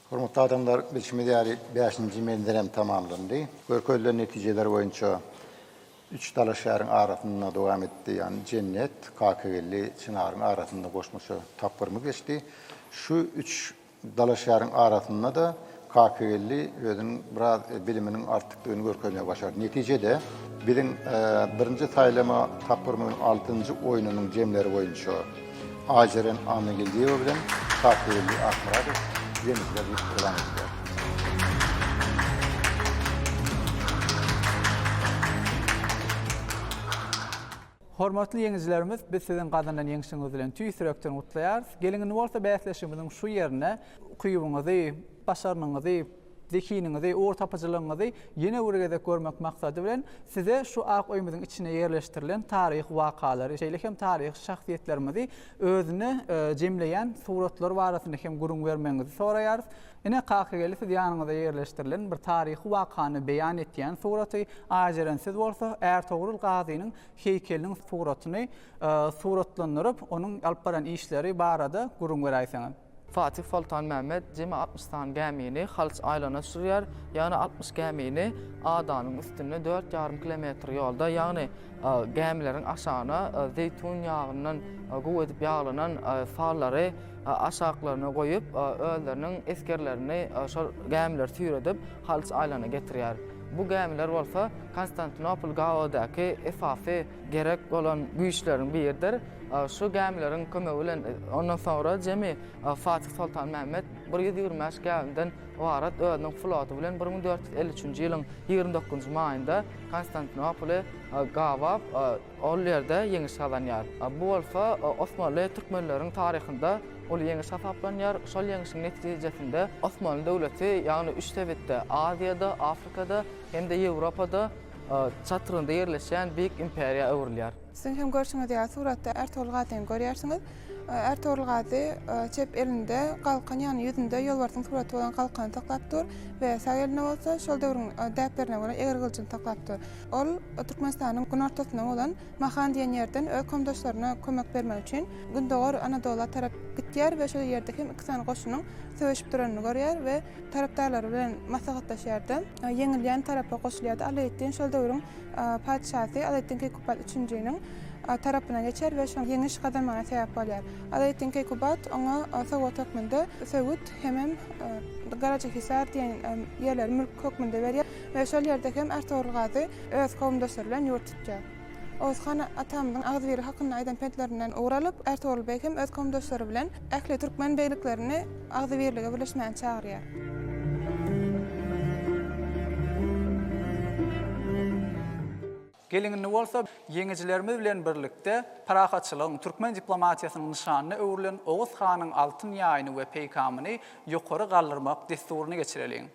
Hormatly adamlar, bilşimiz ýaly, bäşinji menzil hem tamamlandy. Görkezilen netijeler boýunça üç dalaşgäriň arasynda dowam etdi, ýagny Jennet, Kakageldi, Çynaryň arasynda goşmaça tapgyrymyz geçdi. Şu üç dalaşgäriň arasynda-da Kakageldi özüniň biraz biliminiň artykdygyny görkezmegi başardy. Netijede, biziň birinji saýlama tapgyrymyzyň altynjy oýnunyň jemleri boýunça, Aýjeren Annageldiýewa bilen Kakybeldi Akmyradow ýeňijiler diýip yglan edilýär. Hormatly ýeňijilerimiz, biz siziň gazanan ýeňşiňiz bilen tüýs ýürekden gutlaýarys. Geliň indi bolsa bäsleşigimiziň şu ýerine ukybyňyzy, başarnygyňyzy, Zehiniňizi, ugur tapyjylygyňyzy ýene bir gezek görmek maksady bilen, size şu ak öýümiziň içine ýerleşdirilen taryhy wakalary, şeýle hem taryhy şahsyýetlerimizi özüne jemleýän suratlar barasynda hem gürrüň bermegiňizi soraýarys. Ine, Kakageldi, siz ýanyňyza ýerleşdirilen bir taryhy wakany beýan etýän suraty, Aýjeren siz bolsa Ärtogrul Gazynyň heýkeliniň suratyny suratlandyryp, onuň alyp baran işleri barada gürrüň beräýseňiz. Fatih Soltan Mehmet jemi altmyş sany gämini Halyç aýlana sürýär, ýagny altmyş gämini adanyň üstünde dört ýarym kilometr ýolda, ýagny gämileriň aşagyna zeýtun ýagyndan gowy edip ýaglanan sallary aşaklaryna goýup, özleriniň esgerlerini şol gämiler süýredip, Halyç aýlana getirýär. Bu gämiler bolsa Konstantinopol gabawydaky esasy gerek bolan güýçleriň biridir. Şu gämileriň kömegi bilen ondan soňra jemi Fatih Soltan Mehmet bir ýüz ýigrimi bäş gämiden ybarat özüniň floty bilen bir müň dört ýüz elli üçünji ýylyň ýigrimi dokuzynjy maýynda Konstantinopoly gabap, ol ýerde ýeňiş gazanýar. Bu bolsa osmanly türkmenleriň taryhynda uly ýeňiş hasaplanýar. Şol ýeňişiň netijesinde Osmanly döwleti, ýagny üç sebitde, Aziýada, Afrikada hem-de Ýewropada, çatrygynda ýerleşýän beýik imperiýa öwrülýär. Siziň hem görşüňiz ýaly suratda Ärtogul Gazyny görýärsiňiz. Ärtogul Gazy çep elinde galkan, ýagny ýüzünde ýolbarsyň suraty bolan galkany saklap dur we sag elinde bolsa şol döwrüň däplerine görä eger gylyjyny saklap dur. Ol Türkmenistanyň günortasynda bolan Mahan diýen ýerden öz komdaşlaryna kömek bermek üçin gündogar Anadola tarap gitýär we şol ýerde hem iki sany goşunyň söweşip duranyny görýär we Tarapdarlary bilen maslahatlaşýar-da, ýeňilýän tarapa goşulýar-da, Alaeddin şol döwrüň patyşasy Alaeddin Keýkubat üçünjiniň tarapyna geçýär we şoň ýeňiş gazanmagyna sebäp bolýar. Alaeddin Keýkubat oňa sowgat hökmünde Söwüt hemem Garajahisar diýen ýerleri mülk hökmünde berýär we şol ýerde hem Ertogrul Gazy öz kowumdaşlary bilen ýurt tutýar. Oguzhan atamyzyň agzybirlik hakynda aýdan pentlerinden ugur alyp, Ärtogul beg hem öz kowumdaşlary bilen ähli türkmen begliklerini agzybirlige birleşmäni çagyrýar. Geliň indi bolsa, ýeňijilerimiz bilen birlikde parahatçylygyň, türkmen diplomatiýasynyň nyşanyna öwrülen Oguz hanyň altyn ýaýyny we peýkamyny ýokary galdyrmak dessuryny geçireliň.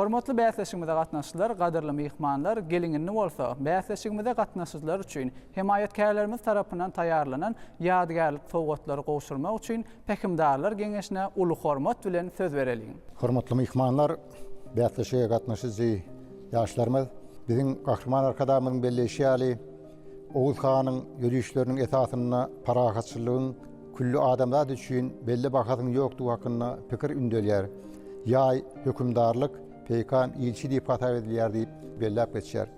Hormatly bäsleşigimize gatnaşyjylar, gadyrly myhmanlar, gelin-indi bolsa, bäsleşigimize gatnaşyjylar üçin hemaýatkärlerimiz tarapyndan taýýarlanan ýadygärlik sowgatlary gowşurmak üçin Pähimdarlar geňeşine uly hormat bilen söz bereliň. Hormatly myhmanlar, bäsleşige gatnaşyjy ýaşlarymyz! Biziň Gahryman Arkadagymyzyň belleýşi ýaly, Oguz hanyň ýörişleriniň esasynda parahatçylygyň külli adamzat üçin belli bahasynyň ýokdugy hakynda pikir ündelýär. Ýaý, hökümdarlyk, peýkam, ilçi diýip hasap edilýär diýip belläp geçýär.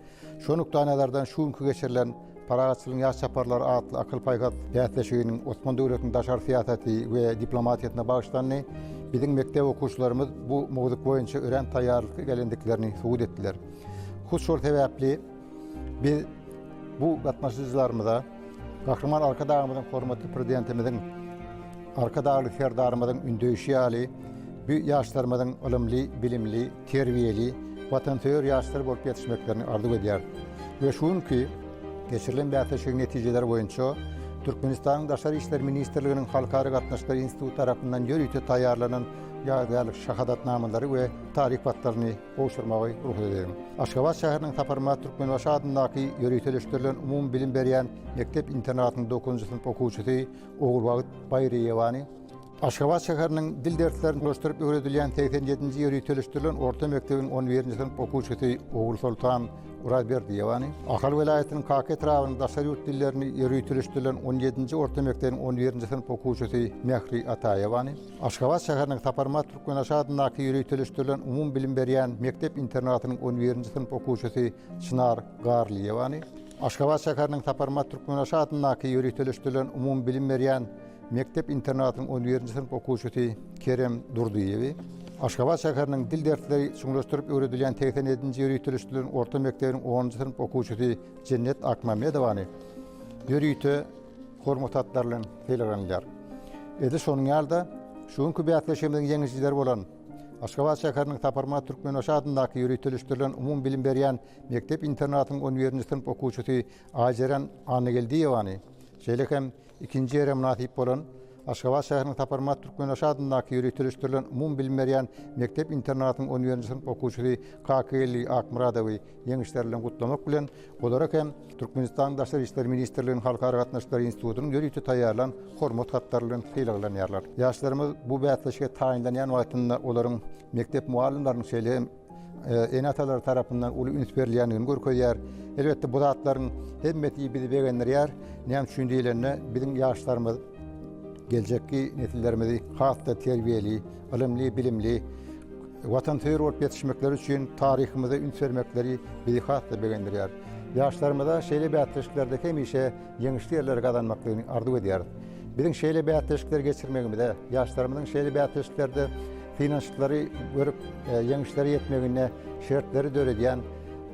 Şo nukdaýnazardan şu günki geçirilen Parahatçylygyň ýaş çaparlary atly akyl-paýhas bäsleşiginiň Osman döwletiniň daşary syýasaty we diplomatiýasyna bagyşlandy. Biziň mekdep okuwçylarymyz bu mowzuk boýunça örän taýýarlykly gelendiklerini subut etdiler. Hut şol sebäpli biz bu gatnaşyjylarymyza Gahryman Arkadagymyzyň, hormatly Prezidentimiziň, Arkadagly Serdarymyzyň ündeýşi ýaly, bu ýaşlarymyzyň ylymly, bilimli, terbiýeli, watansöýer ýaşlar bolup ýetişmeklerini arzuw edýäris we şu günki geçirilen bäsleşigiň netijeleri boýunça Türkmenistanyň Daşary işler ministrliginiň Halkara gatnaşyklary instituty tarapyndan ýörite taýýarlanan ýadygärlik şahadatnamalary we taryh patlaryny gowşurmagy rugsat ediň. Aşgabat şäheriniň Saparmyrat Türkmenbaşy adyndaky ýöriteleşdirilen umumybilim berýän mekdep-internatynyň dokuzynjy synp okuwçysy Ogulbagt Baýryýewany, Aşgabat şäheriniň dil derslerini gurnaşdyryp öwredilýän segsen ýedinji ýöriteleşdirilen orta mekdebiň on birinji synp okuwçysy Ogulsoltan Orazberdiýewany, Ahal welaýatynyň Kaka etrabynyň daşary ýurt dillerini ýöriteleşdirilen on ýedinji orta mekdebiň on birinji synp okuwçysy Mähri Ataýewany, Aşgabat şäheriniň Saparmyrat Türkmenbaşy adyndaky ýöriteleşdirilen umumybilim berýän mekdep-internatynyň on birinji synp okuwçysy Çynar Garlyýewany, Aşgabat şäheriniň Saparmyrat Türkmenbaşy adyndaky ýöriteleşdirilen umumybilim berýän Mekdep-internatyň on birinji synp okuwçysy Kerem Durdyýewi Aşgabat şäheriniň dil dersleri çuňlaşdyryp öwredilýän segsen ýedinji ýöriteleşdirilen orta mekdebiň onunjy synp okuwçysy Jennet Akmamedowany ýörite Hormat hatlary bilen sylaglanylýar. Edil şonuň ýaly-da, şu günki bäsleşigimiziň ýeňijileri bolan Aşgabat şäheriniň Saparmyrat Türkmenbaşy adyndaky ýöriteleşdirilen umumybilim berýän mekdep-internatyň on birinji synp okuwçysy Aýjeren Annageldiýewany, şeýle hem Ikinji ýere mynasyp bolan Aşgabat şäheriniň Saparmyrat Türkmenbaşy adyndaky ýöriteleşdirilen umumybilim berýän mekdep-internatyň on birinji synp okuwçysy Kakageldi Akmyradowy ýeňişleri bilen gutlamak bilen, olara hem Türkmenistanyň Daşary işler ministrliginiň Halkara gatnaşyklary institutynyň ýörite taýýarlan Hormat hatlary bilen sylaglanýarlar. Ýaşlarymyz bu bäsleşige taýynlanýan wagtynda olaryň mekdep mugallymlarynyň, şeýle hem. ene-atalar tarapyndan uly üns berilýändigini görkezýär. Elbetde, bu zatlaryň hemmesi bizi begendirýär. Näme üçin diýlende, biziň ýaşlarymyz geljekki nesillerimizi has-da terbiýeli, ylymly, bilimli, watansöýer bolup ýetişmekleri üçin taryhymyza üns bermekleri bizi has-da begendirýär. Ýaşlarymyza şeýle bäsleşiklerde hemişe ýeňişli ýerleri gazanmaklygyny arzuw edýäris. Biziň şeýle bäsleşikleri geçirmegimize, ýaşlarymyzyň şeýle bäsleşiklerde Synanyşyklary görüp, ýeňişlere ýetmegine şertleri döredýän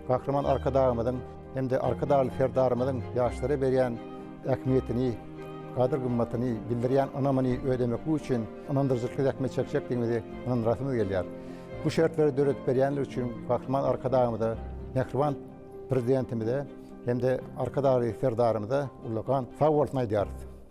Gahryman Arkadagymyzyň hem-de Arkadagly Serdarymyzyň ýaşlara berýän ähmiýetini, gadyr-gymmatyny, bildirýän ynamyny ödemeklik üçin ynandyryjylykly zähmet çekjekdigimizi ynandyrasymyz gelýär. Bu şertleri döredip berýänleri üçin Gahryman Arkadagymyza, mähriban Prezidentimize hem-de Arkadagly Serdarymyza ullakan sag bolsun aýdýarys.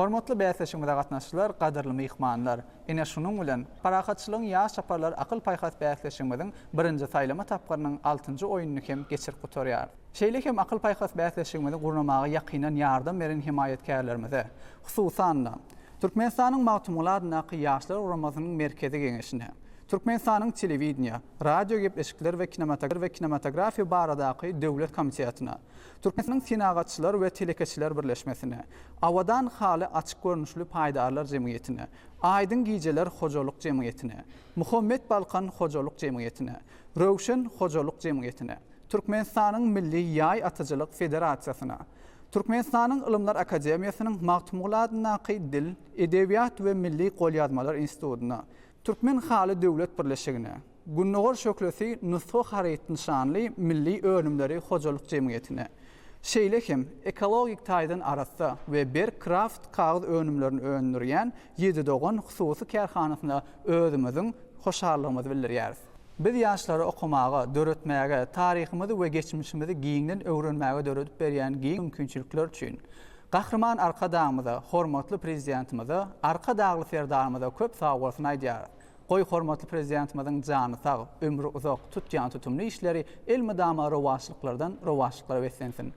Hormatly bäsleşigimize gatnaşyjylar, gadyrly myhmanlar! Ine şunuň bilen, Parahatçylygyň ýaş çaparlar akyl-paýhas bäsleşigimiziň birinji saýlama tapgyrynyň altynjy oýnuny hem geçirip gutarýarys. Şeýle hem akyl-paýhas bäsleşigimizi gurnamaga ýakyndan ýardam beren hemaýatkärlerimize, hususan-da, Türkmenistanyň Magtymguly adyndaky Ýaşlar guramasynyň Merkezi Geňeşine, Türkmenistanyň Telewideniýe, radiogepleşikler we kinematografiýa baradaky döwlet komitetine, Türkmenistanyň Senagatçylar we telekeçiler birleşmesine, Abadan haly açyk görnüşli paýdarlar jemgyýetine, Aýdyň gijeler hojalyk jemgyýetine, Muhammet Balkan hojalyk jemgyýetine, Röwşen hojalyk jemgyýetine, Türkmenistanyň Milli ýaý atyjylyk federasiýasyna, Türkmenistanyň Ylymlar akademiýasynyň Magtymguly adyndaky Dil, edebiýat we milli golýazmalar institutyna, Türkmen haly döwlet birleşigine, Gündogar şöhlesi nusga haryt nyşanly milli önümleri hojalyk jemgyýetine, şeýle hem ekologik taýdan arassa we berk kraft kagyz önümlerini öndürýän Ýedi dogan hususy kärhanasyna özümiziň hoşallygymyzy bildirýäris. Biz ýaşlara okamaga, döretmäge, taryhymyzy we geçmişimizi giňden öwrenmäge döredip berýän giň mümkinçilikler üçin Gahryman Arkadagymyza, hormatly Prezidentimize, Arkadagly Serdarymyza köp sagbolsun aýdýarys. Goý, hormatly Prezidentimiziň jany sag, ömri uzak, tutýan tutumly işleri elmydama rowaçlyklardan rowaçlyklara beslensin!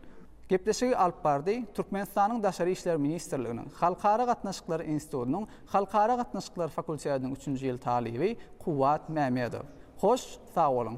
Gepleşigi alyp bardy, Türkmenistanyň Daşary işler ministrliginiň Halkara gatnaşyklary institutynyň Halkara gatnaşyklary fakultetiniň üçünji ýyl talyby Kuwwat Mämedow. Hoş, sag boluň!